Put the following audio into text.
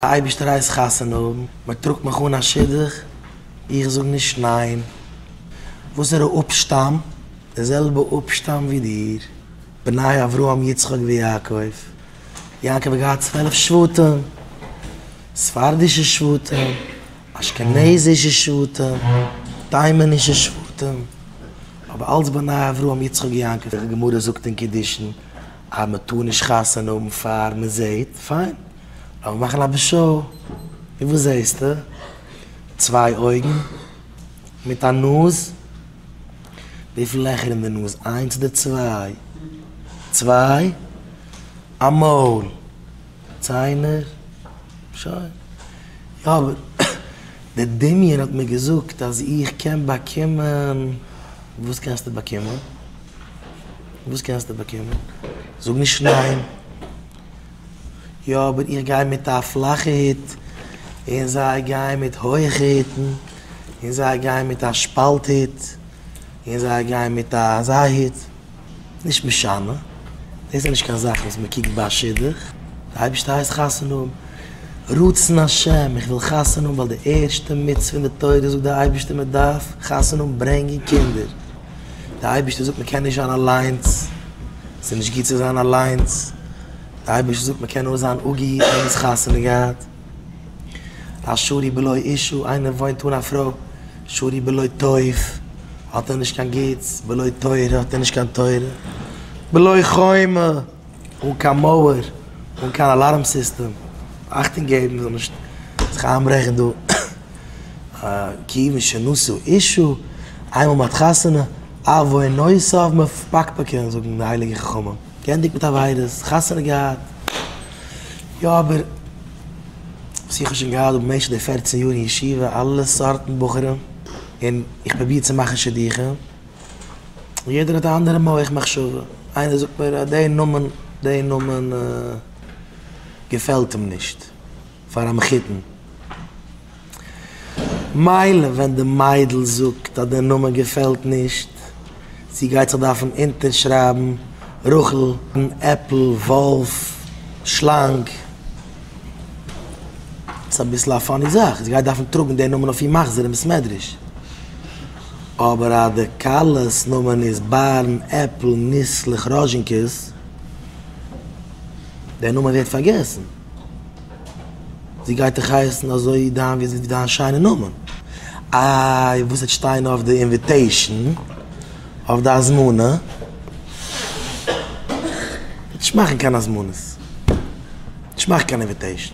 אייבערשטער הייסט חתונה האבן, מען טראגט מיך אן א שידוך, איך זאג נישט ניין. וואסערע אפשטאם? די זעלבע אפשטאם ווי דיר, בני אברהם יצחק ויעקב, יעקב האט געהאט צוועלף שבטים, ספרדישע שבטים, אשכנזישע שבטים, תימנישע שבטים, אבער אלץ בני אברהם יצחק יעקב. די גמרא זאגט אין קידושין אז מען טאר נישט חתונה האבן פאר מען זעט, פיין. לאמיר מאכן א משל, און וואס זעהסטו? צוויי אויגן מיט א נאז. וויפיל לעכער אין די נאז? איינס אדער צוויי? צוויי. א מויל, ציינער, שוין. יא, אבער די דמיון האט מיר געזאגט אז איך קען באקומען. וואס קענסטו באקומען? וואס קענסטו באקומען? זאג נישט ניין. יא אבער איך גיי מיט א פלאכע היט און זיי גייען מיט הויעכע היטן און זיי גייען מיט א שפאלט היט און זיי גייען מיט א אזא היט נישט משנה דאס איז נישט קיין זאך וואס מען קוקט ביי א שידוך די אייבערשטער הייסט חתונה האבן רצון השם איך וויל חתונה האבן ווייל די ערשטע מצוה אין די תורה זאגט די אייבערשטער מען דארף חתונה האבן ברענגען קינדער. דער אייבערשטער זאגט מען קען נישט זיין אליינס, ס'איז נישט גוט צו זיין אליינס, דער אייבערשטער זאגט מען קען נאר זיין אגעי איינער האט חתונה געהאט, א שרי בלא אישה, איינער וואוינט אן א פרוי, שרי בלא טוב, האט ער נישט קיין גוטס, בלא תורה, האט ער נישט קיין תורה, בלא חומה. אן קיין מויער, אן קיין אלארם סיסטעם, אכטונג געבן זאל נישט זיך איינברעכן דא, כיוון שנשא אישו, איינמאל מ'האט חתונה, אוואו נושאיו מפקפקין זאגן די הייליגע חכמים, גענדיגט מיט עבירות, חתונה געהאט, יא אבער וואס איך האב שוין געהאט במשך די פערצן יאר אין ישיבה, אלע סארטן בחורים, און איך פרוביר צו מאכן שידוכים. יעדער האט א אנדערע מח מחשבה, איינער זאגט מיר אז די נאמען, די נאמען געפעלט אים נישט פאר א מחותן, מילא ווען די מיידל זאגט אז די נאמען געפעלט נישט, זי גייט זיך דארפן אונטערשרייבן רחל, עפל, וואלף, שלאנג, ס'איז אביסל א פאני זאך, זי גייט דארפן טראגן די נאמען אויף איר מחזור אין בית מדרש. אבער אז די כלה'ס נאמען איז בארן עפל ניסלעך ראזשינקעס, דער נאמען ווערט פארגעסן. זי גייט דאך הייסן אזוי דיין ווי דיין שיינע נאמען. איי וואס וועט שטיין אויף די אינוויטעישן? אויף די הזמנה? נישט מאכן קיין הזמנות. נישט מאכן קיין אינוויטעישן.